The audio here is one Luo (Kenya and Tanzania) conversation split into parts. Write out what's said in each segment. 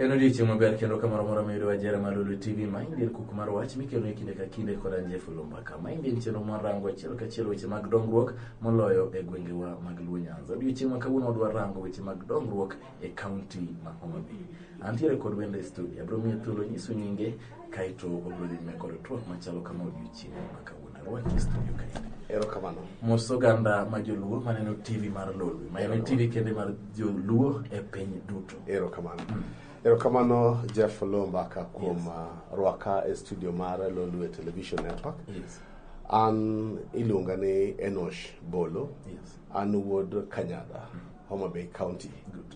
En odiechieng' maber kendo kamoro moro mayudo ajera mar Lulu TV ma indien kuk mar wach mikelo e kinde ka kinde koda Jeff Lumbaka ma indien chenro mar rango achiel kachiel weche mag dongruok moloyo e gwengewa mag Luo Nyanza. Odiechieng' ma kawuono wadwa rango weche mag dongruok e county ma Homa Bay. Antiere kod wendo e studio, abiro miye thuolo nyiso nyinge kaeto obiro dhi nyime kod twak machalo kama odiochieng' ma kawuono. Arwaki e studio kaeto. Erokamano. Mos oganda ma joluo maneno TV mar Lolwe, ma en TV kende mar joluo e piny duto. Erokamano. Erokamano Jeff Lombaka kuom Yes. uh, rwaka e studio mar Lolwe Television Network. Yes. An iluonga ni Enosh Bolo. Yes. An wuod Kanyada. Homa Bay County. Good.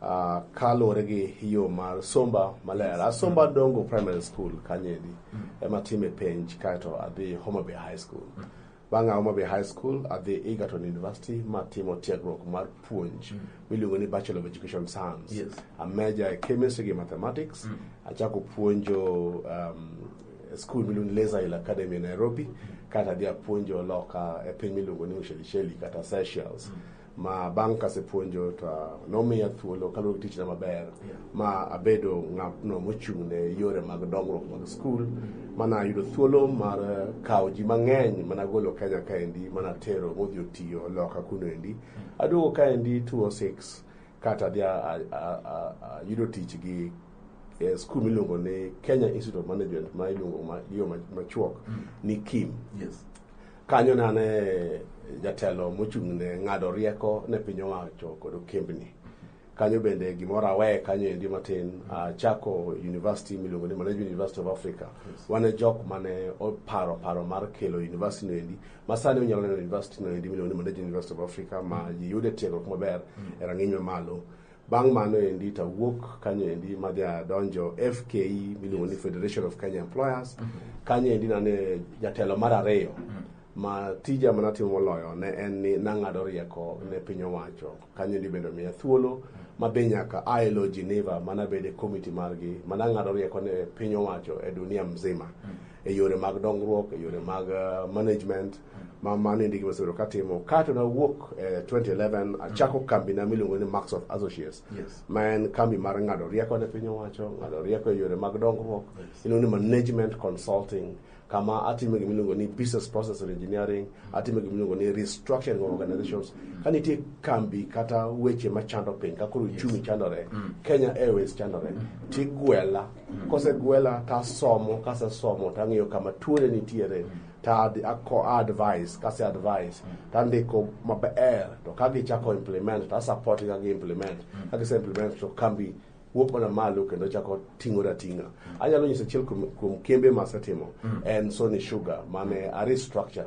Uh, kaluwore gi yo mar somba maler asomba mm. dongo primary school kanyendi mm. ema time penj kaeto adhi Homa Bay High School mm. bang' a Homa Bay High School adhi Egerton University matimo tiegruok mar puonj mm. miluongo ni Bachelor of Education Science yes. a major e chemistry gi mathematics mm. achako puonjo um, school miluongo ni Laser Hill Academy e Nairobi mm. kata adhi apuonjo loka e piny miluongo ni Ushelisheli kata Seychelles mm. ma bang' kasepuonjo to nomiya thuolo kaluwore gi tichna maber ma abedo ng'atno mochung' ne yore mag dongruok mag skul mana yudo thuolo mar eh, kawo ji mang'eny mana golo kenya kaendi mana tero modhi otiyo loka kuno endi aduogo kaendi 206 kata adhi a- a- a- a- a- yudo tich gi eh, skul miluongo ni kenya institute of management ma iluongo ma- gi yo ma- machuok ni kim Yes. Kanyo ne ane jatelo mochung' ne ng'ado rieko ne piny owacho kod okembni. Kanyo bende gimoro awe kanyo endi matin achako university miluongo ni Management University of Africa. Yes. Wan e jok mane oparo paro mar kelo university no endi ma sani unyalo neno university no endi miluongo ni Management University of Africa ma mm. yiyude tiegruok maber mm. e rang'iny mamalo. Bang' mano endi to awuok kanyo endi madhi adonjo FKE miluongo ni Federation of Kenya Employers. Kanyo endi nane jatelo mar ariyo ma tija mana timo moloyo ne en ni nang'ado rieko ne piny owacho. Kanyo endi bende omiya thuolo madhi nyaka ILO Geneva manabede komiti margi manang'ado rieko ne piny owacho e dunia mzima. e yore mag dongruok e yore mag uh, management ma mano endi gima asebedo katimo kaeto nawuok e eh, 2011 achako mm. kambi na miluongo ni max of associates yes. ma en kambi mar ng'ado rieko ne piny owacho ng'ado rieko e yore mag dongruok yes. iluongo ni management consulting kama atime gima iluongo ni business process engineering atime gima iluongo ni restructuring of organizations ka nitie kambi kata weche machando piny ka koro uchumi chandore mm. kenya airways chandore mm. tigwela kosegwela tasomo kasesomo tang'eyo kama tuone nitiere ta ako advice kase advice tandiko maber to ka gichako implement ta support ka gi implement ka gise implement to kambi wuok mana malo kendo chako ting'o rating'a anyalo nyiso achiel kuom kuom kembe masetimo en sony sugar mane a restructure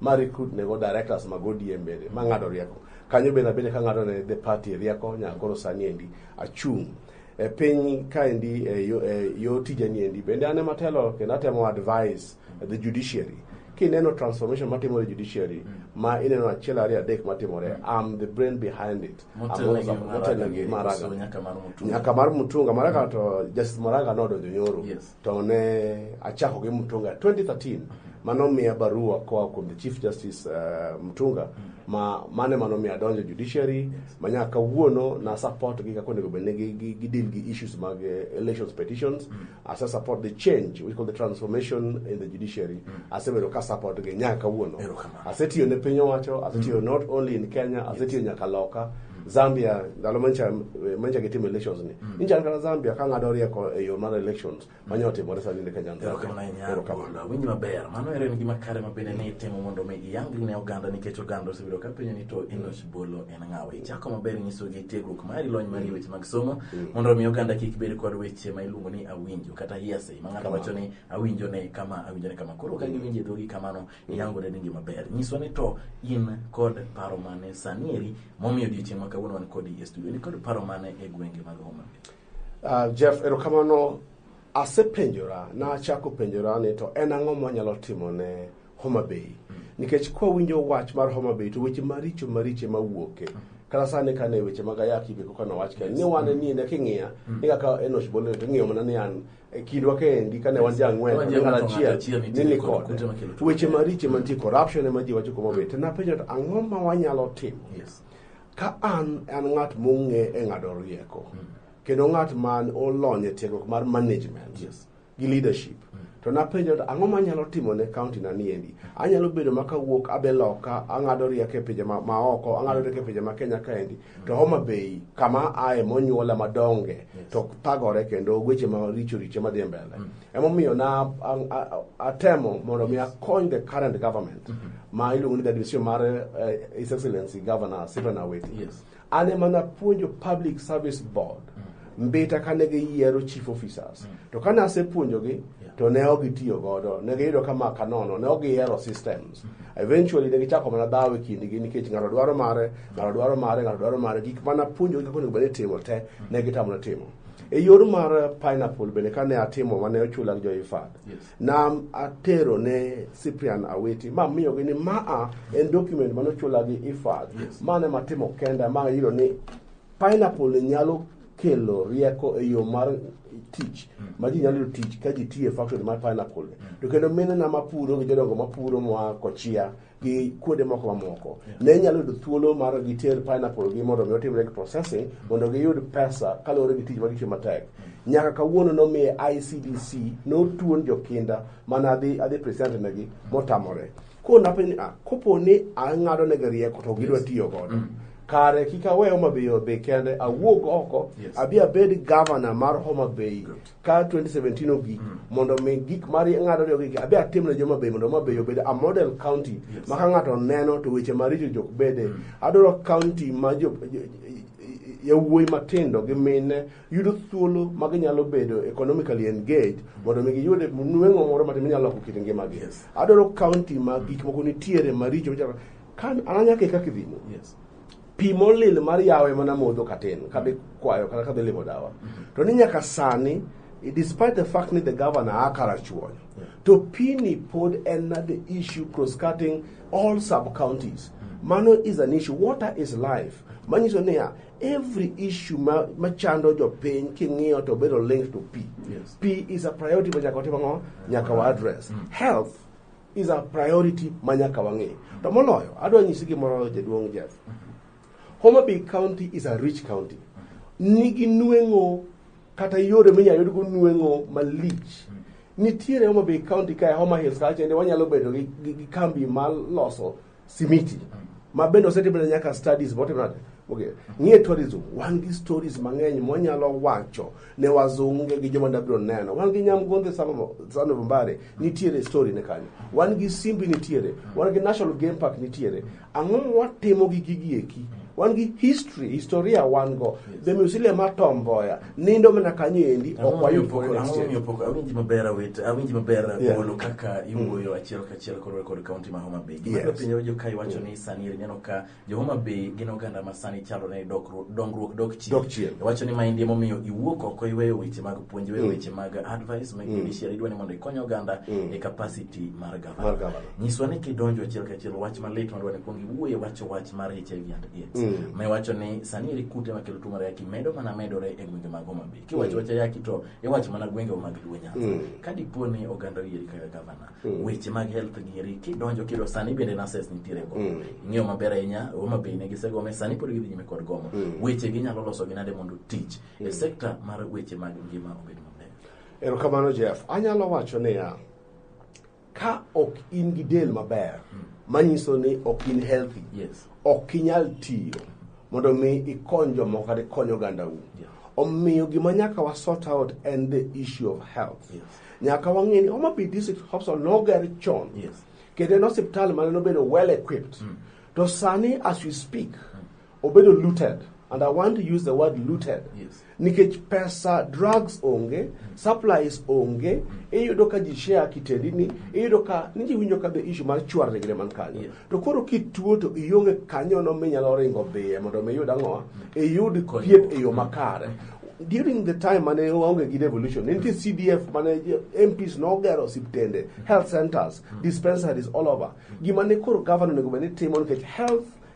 ma recruit nego directors mag ODM bende ma ng'ado rieko kanyo bende abende ka ng'ado ne the party rieko nyaka koro sani endi achung' e piny kaendi e yo, e yo tijani endi bende an ema telo kendo atemo advise the judiciary kineno transformation matimore e judiciary ma ineno achiel ariyo adek matimore am the brain behind it I'm Motelo always gi up- Maraga motelo gi gi Maraga. Koso nyaka mar Mutunga. nyaka mar mutunga maraga to justice maraga nodonjo nyoro Yes. to ne achako gi Mutunga 2013 mano miya barua koa kuom the Chief Justice uh, Mutunga ma mane mano miya donjo judiciary ma nyaka kawuono na support gi kaka onego bedne gi, gi, gi deal gi issues mag uh, elections petitions as I support the change we call the transformation in the judiciary asebedo ka support gi nyaka kawuono Erokamano. asetiyo ne piny owacho asetiyo not only in Kenya asetiyo nyaka loka zambia ndalo manyicha eh, manyicha gitimo elections ni mm. inyicha kata zambia ka ng'ado rieko e yo mar elections manya otimore sani ne kenya erokamano ahinya Abula. winj maber mano ero en gima kare ma bende ne itimo mondo mi iyangri ne oganda nikech oganda osebedo ka penjo ni to enoch bolo en ng'awa ichako maber nyisogi tiegruok mari lony mari e weche mag somo mondo mi oganda kik bed kod weche ma iluongo ni awinjo kata hearsay ma ng'ato wacho ni awinjo ne kama awinjo ne kama koro ka giwinjo e dhogi kamano iyangore ni ngima ber nyiswa ni to in kod paro mane sani eri momiyo odiochieng' ma kawuono wan kodi e studio ni kod paro mane e gwenge mag homa uh, jeff erokamano asepenjora nachako penjora ni to en ang'o mwanyalo timo ne homa bay mm. nikech kwawinjo wach mar homa bay to weche maricho mariche mawuoke mm -hmm kata sani ka ne weche mag ayaki be koka nowach ka ni wane ni ne king'iya mm. ni kaka enosh bolo to ng'iyo mana ni an e kindwa kaendi kane wan ji ang'wen Wan ji kane ang'wen, achiel achiel nitie nini kod kode kute makelo tuoche. weche maricho mantie corruption ema ji wacho kuma be to napenjo to ang'o ma wanyalo timo Yes. ka an an ng'at mong'e e ng'ado rieko kendo ng'at man olony e tiegruok mar management Yes. gi leadership to napenjo to ang'o manyalo timo ne county na niendi anyalo bedo ma kawuok abe loka ang'ado rieko e pinje ma- maoko ang'ado rieko e pinje ma kenya kaendi to Homa Bay kama aye monyuola madonge yes. to thagore kendo weche maricho richo madhi mbele mm. emomiyo na atemo mondo mi akony the current government mm -hmm. ma iluongo ni the division mar uh, his excellency governor Stephen Awiti yes. an ema napuonjo public service board mm. Mbita kane giyiero chief officers mm. to kane asepuonjogi yeah. to ne ok gitiyo godo ne giyudo ka maka nono ne ok gihero systems mm -hmm. eventually ne gichako mana dhawo e kindgi nikech ng'ato dwaro mare ng'ato dwaro mare ng'ato dwaro mare gik mana puonjogi kaka onego bed ni timo te mm. ne gitamona timo e yor mar eh, pineapple bende kane atimo mane ochula gi joifad yes. na atero ne cyprian aweti ma miyogi ni maa en document mane ochula gi ifad yes. mane matimo kenda ma ayudo ni Pineapple ni nyalo kelo rieko e yo mar tich ma ji nyalo yudo tich ka ji tiyo e factory mar pineapple to kendo minena mapuro gi jodongo mapuro moa kochia gi kuonde moko mamoko ne nyalo yudo thuolo mar giter pineapple gi mondo mi otimre gi processing mondo giyud pesa kaluwore gi tich ma gitiyo matek nyaka kawuono nomiye ICDC notuon jokinda mane adhi adhi present negi motamore ko napenjo ah, kopo ni ang'ado negi rieko to gidwa tiyo godo kare kik awe Homa Bay Homa Bay kende awuog oko Yes. abi abed governor mar Homa Bay Good. ka 2017 ogik mondo mi gik mar ng'ado riyo gik abi atim ne Homa Bay mondo Homa Bay obed a model county Yes. ma ka ng'ato neno to weche maricho jok bede adwaro county ma jo jo- yawuoyi matindo gi mine yudo thuolo ma ginyalo bedo economically engaged mondo mi giyude nweng'o moro matin minyalo loko kit ngimagi Yes. adwaro county ma gik moko nitiere maricho michalo Kan ananya ke kaka idhi mo. Yes. Pi molil mar yawe mana modho katin kadhi kwayo kata kadhi limo dawa. To ni nyaka sani despite the fact ni the governor a karachuonyo to pini pod en na the issue cross cutting all sub counties mano is an issue water is life manyiso niya every issue ma- machando jopiny king'iyo to bedo linked to pi Yes. pi is a priority ma nyaka watim ang'o nyaka wa address health is a priority ma nyaka wang'e. To moloyo, adwa nyisi gimoro jaduong' Jeff. Homa Bay County is a rich county. Nigi nweng'o kata yore minyalo yudgo nweng'o malich. Nitiere Homa Bay County kae Homa Hills kacha ende wanyalo bedo gi, gi, gi kambi maloso simiti ma bende osetimne nyaka studies motimnade okay. ng'e tourism wan gi stories mang'eny mwanyalo wacho ne wazunge gi joma dabiro neno wan gi nyamgondhe sano mbare nitiere story ne kanyo wan gi simbi nitiere wan gi national game park nitiere ang'o mwatimo gi gigi eki wan gi history historia wan go the museum mar tom mboya nindo mana kanyo endi ok wayud koro next year Ang'omiyo pok awinji maber awit awinji maber Yeah. polo kaka iwuoyo achiel kachiel koro kod kaunti ma Homa Bay. Gima Yes. yes. pinyo jo ka iwacho ni sani eri neno ka jo Homa Bay gin oganda ma sani chalo ne dokru- dongruok dok chien. Dok chien. Iwacho ni maendi emomiyo iwuok oko iweyo weche mag puonj, iweyo weche mag advice, mag judiciary, idwa ni mondo ikony oganda e capacity mar mar gavana. gavana Nyiswa ni kidonjo achiel ka achiel wach malit madwa ni kuong iwuoye wacho wach mar HIV and AIDS. Mm. Ma iwacho ni sani eri kute makelo tuo mar ayaki medo mana medore e gwenge mag Homa Bay. Kiwacho wach ayaki to iwacho mana gwenge mag Luo Nyanza. Mm. Ka dipo ni oganda oyieri kaka gavana, Mm. weche mag health gi eri kidonjo kido sani bende nurses nitiere go. Mm. Ing'eyo maber ahinya Homa Bay ne gisegome sani pod gidhi nyime kod gomo. Mm. Weche ginyalo loso gi nade mondo tich e Mm. sekta mar weche mag ngima obed maber. Erokamano Jeff. Anyalo wacho niya, Ka ok in gi del maber, hmm. manyiso ni ok in healthy, yes. ok inyal tiyo mondo mi ikony jomoko kata ikony ogandau. Yeah. Omiyo gima nyaka wa sort out en the issue of health. Yes. Nyaka wang'e ni Homa Bay District Hospital noger chon. Yes. Kendo en osiptal mane nobedo well equipped. Mm. To sani as we speak, mm. obedo looted and i want to use the word looted Yes. nikech pesa drugs onge supplies onge iyudo ka ji share kitendi ni iyudo ka ni ji winjo ka the issue mar chwar negre man kanyo Yes. to koro kituo to ionge kanyono minyalo ringo dhiye mondo mi iyud ang'owa iyud Konyruok. thieth e yo makare during the time mane waonge gi revolution ne nitie cdf mane mps nogero osiptende health centers dispensaries all over gima ne koro governor onego bed ni timo nikech health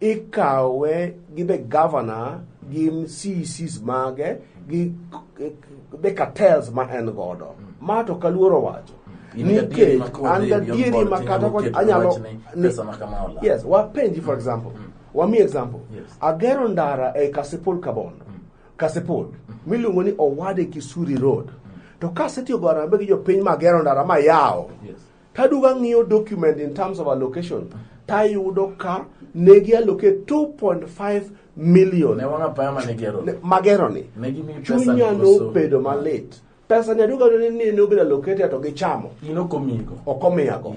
ikawe gi the governor gi CECs mage gi the cartels ma en godo ma to kaluoro wacho In nikech gadieri ma kod an in gadieri your ma body, kata inyalo kod keto anyalo wachne ni- pesa ma kama ola. yes wapenji for example wami example Yes. agero ndara e kasipul kabondo kasipul miluongo ni owade kisuri road to kasetiyo go arambe gi jopiny magero ndara mayawo Yes. Kaduga ng'iyo document in terms of allocation tayudo ka ne gi allocate 2.5 million magero ni chunya nobedo malit pesa nyaduga ne ni ne obedo allocated to gichamo okomiyago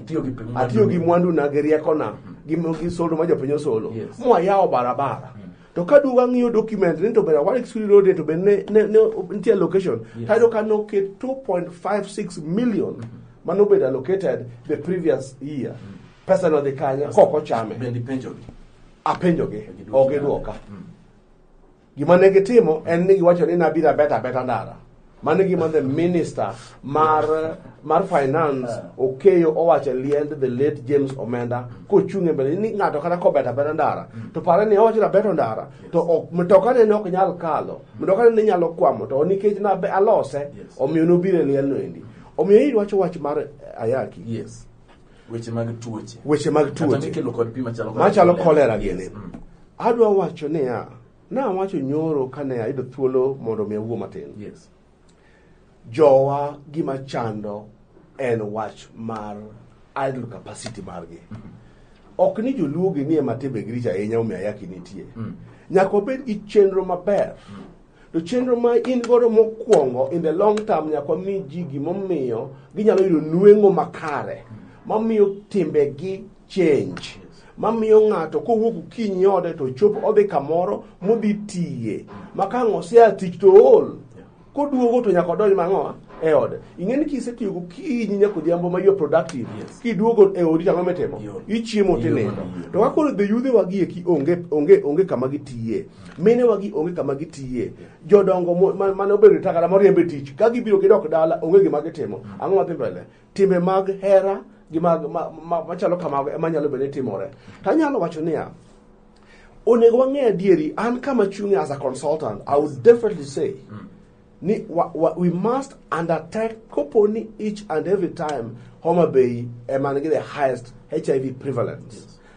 atiyo gi mwandu na gi rieko na gi soldo ma jopiny osolo mwayawo barabara to ka duogo ang'iyo document ni to bende awar exclude road to bende ne, ne, ne nitie allocation yes. tayudo ka noket 2.56 million mm -hmm. mane obedo allocated the previous year mm -hmm. pesa no dhi kanye kok ochame bende penjogi apenjogi ok gidwoka mm. gima ne gitimo en ni giwacho ni nabiro abeta abeta ndara Mano gima the minister mar mar finance okeyo owacho liend the late James Omenda kochung' e mbele ni ng'ato kata kobet abeta ndara to pare ni owacho nabeto ndara to ok mtoka ne ok nyal kalo mtoka ne nyalo kwamo to nikech na alose omiyo nobire liel no endi omiyo iri wacho wach mar ayaki yes weche mag tuoche weche mag tuoche machalo kolera gini mm. adwa wacho niya Na wacho nyoro kane ayudo thuolo mondo mi awuo matin. Yes. Jowa gima chando en wach mar idle capacity margi. Mm -hmm. Ok ni joluo gi nie matebe grich ahinya omi ayaki nitie. Mm. Nyaka obed gi chenro maber. Mm. To chenro ma in godo mokwongo in the long term nyaka mi ji gimomiyo ginyalo yudo nweng'o makare. Mm. Mamiyo timbegi change mamiyo ng'ato kowuok okinyi ode to chop odhi kamoro modhi tiye ma ka ang' osea tich to ool koduogo to nyaka odonj mang'owa e ode ing'e ni kisetiyo gokinyi nyaka odhiambo ma yo productive Yes. kiduogo e odi tang'o mitimo Yo. ichiemo Yo tinindo madiyo. to kaka koro be yudhewa gi eki onge onge onge kama gitiye minewa gi onge kama gitiye jodongo mo- ma- mane obedo takala moriembe tich ka gibiro gidok dala onge gima gitimo ang'o madhi mbele Timbe mag hera gi mag machalo kamago ema nyalo bedo ni timore. To anyalo wacho niya, onego wang'e adieri an kama chung'e as a consultant i would definitely say mm. ni wa, wa, we must undertake kopo ni each and every time homa bay eman gi the highest hiv prevalence yes.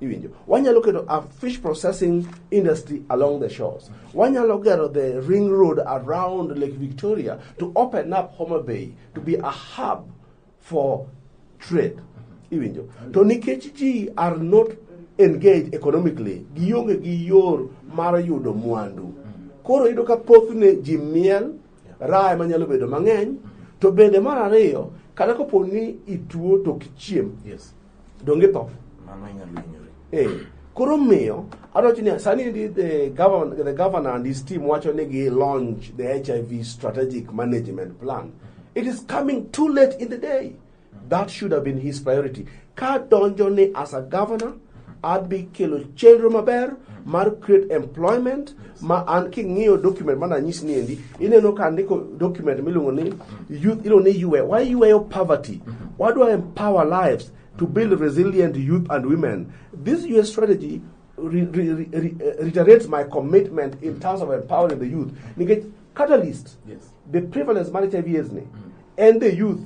Iwinjo. Wanyalo keto a fish processing industry along the shores. Wanyalo gero the ring road around Lake Victoria to open up Homa Bay to be a hub for trade. Iwinjo. To nikech ji are not engaged economically, gionge gi yor mar yudo mwandu. Koro yudo ka thothne ji miel, raha ema nyalo bedo mang'eny, to bende mar ariyo, kata kopo ni ituo to ok ichiem. Yes. donge tho mano inyalo hinyori Eh, koro miyo adwacho ni sani ndi the governor, the governor and his team wacho ni gi launch the hiv strategic management plan it is coming too late in the day that should have been his priority ka donjo ni as a governor adhi kelo chenro maber mar create employment ma an king'iyo document mana nyis ni endi ineno ka ndiko document miluongo ni youth iluongo ni yue wayueyo poverty wadwa empower lives to build resilient youth and women this US strategy re, re, re, re, reiterates my commitment in terms of empowering the youth nikech catalyst Yes. the prevalence mar HIV AIDS ni and the youth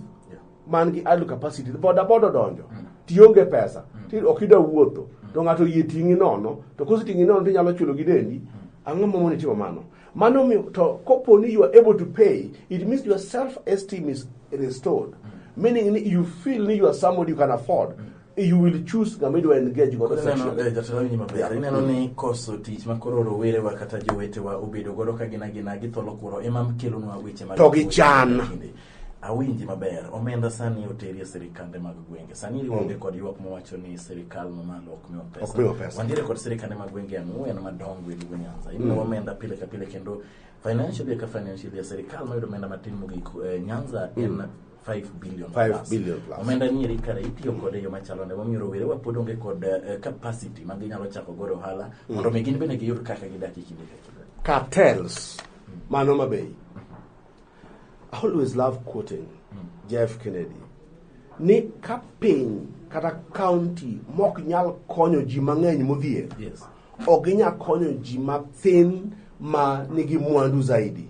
man gi idle capacity boda boda odonjo mm. tionge pesa mm. ti ok ida wuotho mm. to ng'ato yie ting'i nono to koseting'i nono to inyalo chulo gi dendi ang'o momo nitimo mano mano miyo to kopo ni you are able to pay it means your self esteem is restored meaning you feel ni you are somebody you can afford you will choose ng'ama idwa engage godo Ineno, eh, sexually jatelo winyi maber Yeah. ineno ni koso tich ma koro rowerewa kata jowetewa obedo godo ka gina gina githolo kuro ema kelonwa weche mag To gichan. Kinde. awinji maber omenda sani oteri e sirikande mag gwenge sani ionge kod ywak mowacho ni sirikal mamalo ok miwa pesa Ok miwa pesa. wantiere kod sirikande mag gwenge ang'wen madongo e luo nyanza imiyo Mm. omenda pile ka pile kendo financially ka financially sirikal mayudo omenda matin mogik eh, nyanza en 5 billion 5 plus. billion plus. omenda ni eri kare itiyo kode e yo machalo nade momiyo rowere wa pod onge kod eh, capacity ma ginyalo chako godo ohala mondo mi gin bende giyud kaka gidak e kinde ka kinde cartels mano mabei i always love quoting jeff kennedy ni ka piny kata county mok nyal konyo ji mang'eny modhier yes ok ginyal konyo ji mathin ma nigi mwandu zaidi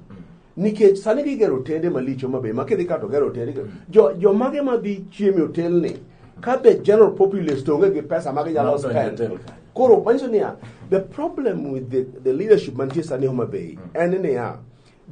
nikech sani gigero otende malicho mabe ma kidhi kato gero otende jo jo mage ma dhi chieme otelni ka the general populace to onge gi pesa ma ginyalo Not on your spend hotel. koro manyiso niya the problem with the, the leadership mantie sani Homa Bay en niya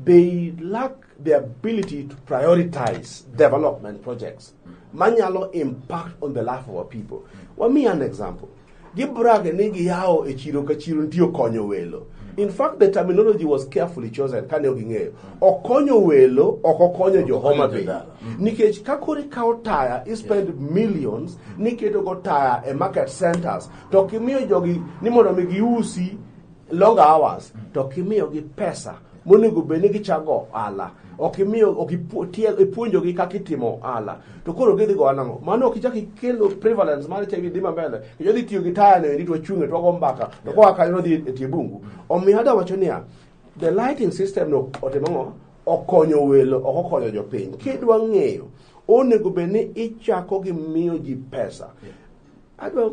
they lack the ability to prioritize development projects manyalo impact on the life of our people wami an example Gibrag ni giyawo e chiro ka chiro nitie okonyo welo. In fact the terminology was carefully chosen kane ok ging'eyo. Okonyo welo ok okonyo jo Homa Bay. Nikech ka koro ikawo taya i spend millions niketo go taya e market centers to kimiyo jogi ni mondo mi giusi long hours to ok imiyogi pesa monego bed ni gichago ohala ok imiyo ok ipu- tie- ipuonjogi kaka itimo ohala to koro gidhi go ohala ngo mano ok ichak ikelo prevalence mar HIV dhi mambele kendo dhi tiyo gi taya no endi to wachunge to wago mbaka to koa kanyo nodhi e tie bungu omiyo ada wacho niya the lighting system no otimo ngo okonyo welo ok okonyo jopiny kidwa ng'eyo onego bed ni ichako gi miyo ji pesa adwa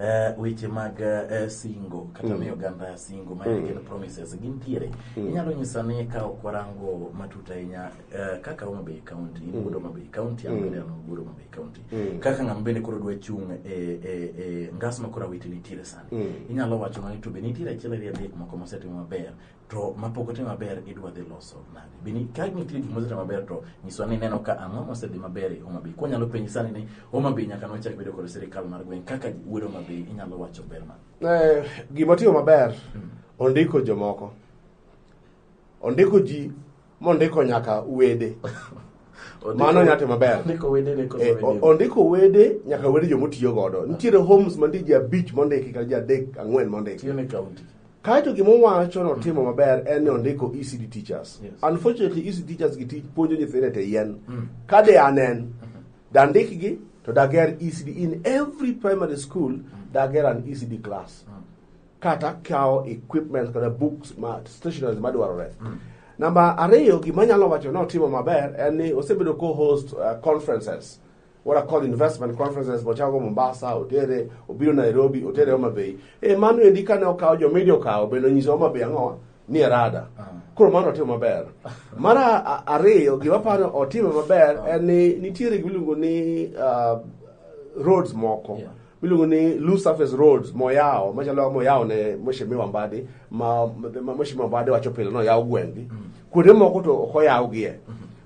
Eh, weche mag eh, singo kata miyo oganda singo ma en gin promises gintiere inyalo nyisa ni ka ok warango matut ahinya eh, kaka Homa Bay County in wuod Homa Bay County an bende an wuod Homa Bay County kaka ng'ama bende koro dwa chung' e e- e ngas ma koro awiti nitiere sani inyalo wacho ni to be nitiere achiel ariyo adek moko mosetimo maber to mapok otim maber idwa dhi loso nade bini ka nitie gik mosetimo maber to nyiswa ni neno ka ang'o mosedhi maber e Homa Bay kwa nyalo penji sani ni Homa Bay nyaka nwachak bedo kod sirikal mar gweng' kaka wuod Homa Bay inyalo wacho ber man Eh, gima tiyo maber ondiko jomoko ondiko ji mondiko nyaka wede mano nyate maber Ondiko wede ne koso Eh, o- wede. ondiko wede nyaka wede jomotiyo godo nitiere homes mantie ji abich mondiki kata ji adek ang'wen mondiki Tiyo ne county. kaeto gima owacho ni otimo maber en ni ondiko ecd teachers Yes. unfortunately ecd teachers gi tij puonjo nyithindo e te yien Mm. ka de anen dandikgi to dager ecd in every primary school dager an ecd class Mm. kata kawo equipment kata books ma stationaries madwarore mm. namba ariyo gima nyalo wacho ni otimo maber en ni osebedo ko host uh, conferences what are called investment conferences mochago mombasa otere obiro nairobi otere homa bay e mano endi kane okawo jo media okawo bende onyiso homa bay ang'owa ni erada ah. koro mano otimo maber mar ariyo gima paro otimo maber ah. en ni nitiere gimiluongo ni uh, roads moko yeah. miluongo ni loose surface roads moyawo machalo moyawo ne mheshimiwa Mbadi ma ma- mheshimiwa Mbadi wacho pile no yawo gweng'gi kuonde moko to ok oyawgie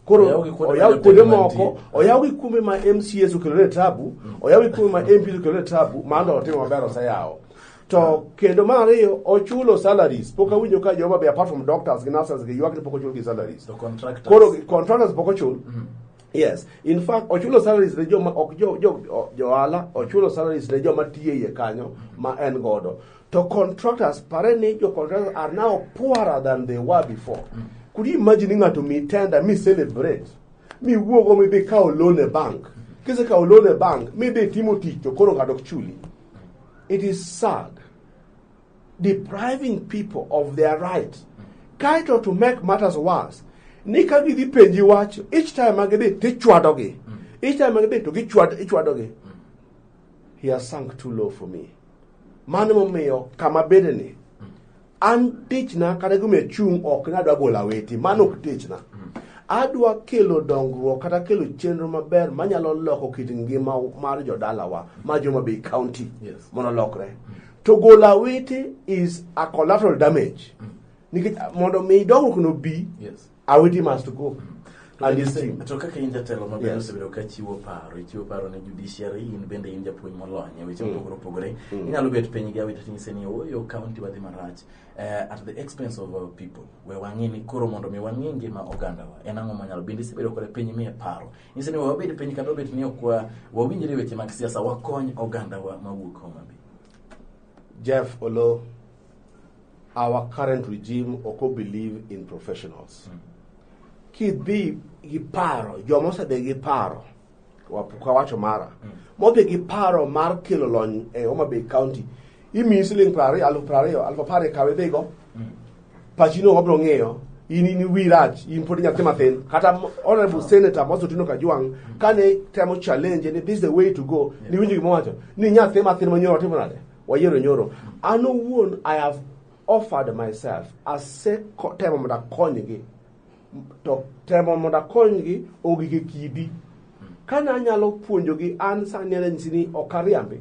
koro Oyaw gi kuonde oyaw ma kuonde jopiny moko mantie. oyaw gi kuonde ma MCAs okelone tabu oyaw gi kuonde ma MPs okelone tabu mano otimo maber oseyawo to kendo mar ariyo ochulo salaries pok awinjo ka joma be apart from doctors gi nurses gi ywak ni pok ochul gi salaries To contractors. koro contractors pok ochul Yes. In fact, ochulo salaries ne joma ok jo jo o- johala, ochulo salaries ne joma tiyo iye kanyo ma en godo. To contractors, pare ni jo contractors are now poorer than they were before. Could you imagine ni ng'ato mi tender, mi celebrate, mi wuogo mi dhi kawo loan e bank. Kise kawo loan e bank, mi dhi timo tich to koro ng'ato ok chuli. It is sad. depriving people of their rights kaeto to make matters worse ni ka gidhi penji wach each time ma gidhi tichwadogi mm. each time ma gidhi to gichwadogi mm. he has sunk too low for me mano momiyo kama bedeni mm. an tichna kata gima chung' ok nadwa golo aweti mano ok tichna adwa kelo dongruok kata kelo chenro maber manyalo loko kit ngima mar jodalawa ma joma bei county yes. mondo lokre To golo awiti is a collateral damage. Mm. Nikech ah, mondo mi dongruok no bi, yes. awiti must go. Mm. To kaka in jatelo maber yes. osebedo ka chiwo paro, ichiwo paro ne judiciary, in bende in japuonj molony e weche mm. mopogore opogore. Mm. Inyalo bet piny gi awiti tinyise ni oyo oh, county wadhi marach uh, at the expense of our people. We wang'e ni koro mondo mi wang'e ngima ogandawa. En ang'o manyalo bende isebedo kore piny miye paro. Nyisi ni wabed piny kata obet ni ok wa- wawinjre e weche mag siasa wakony ogandawa mawuok Homa Bay. Jeff Olo, our current regime oko believe in professionals. Kidhi gi paro, joma osedhi gi paro, wapuka wacho mara, modhi gi paro mar kelo lony e Homa Bay County, Imiyi siling' piero ariyo, aluf piero ariyo, aluf apar e kawe dhigo. Pachi no wabiro ng'iyo. In in wi rach, in pod nyathi mathin. Kata mo- Honorable Senator Moses Otieno Kajwang' kane temo challenge ni this is the way to go. Ni winjo gima wacho. Ni nyathi mathin ma nyoro timo nade? Wayiero nyoro. An owuon I have offered myself asetemo mondo akonygi to temo mondo akonygi ogik e kidi kane anyalo puonjogi an sani anyalo nyisi ni ok ariambi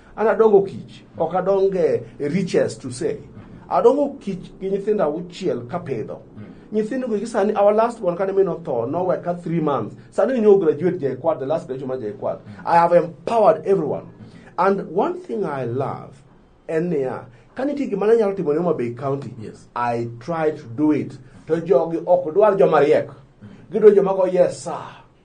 An adongo kich, ok adong e riches to say. Adongo kich gi nyithindo auchiel kapidho. Hmm. Nyithindo gi sani our last one kane min otho nowe ka 3 months. Sani nyo graduate jay kwad the last graduation ma jay kwad. Hmm. I have empowered everyone. And one thing I love en niya ka nitie gima ne nyalo timo ne Homa Bay County, yes. I try to do it. To jogi ok dwar joma riek. Hmm. Gidwaro joma go yes sir.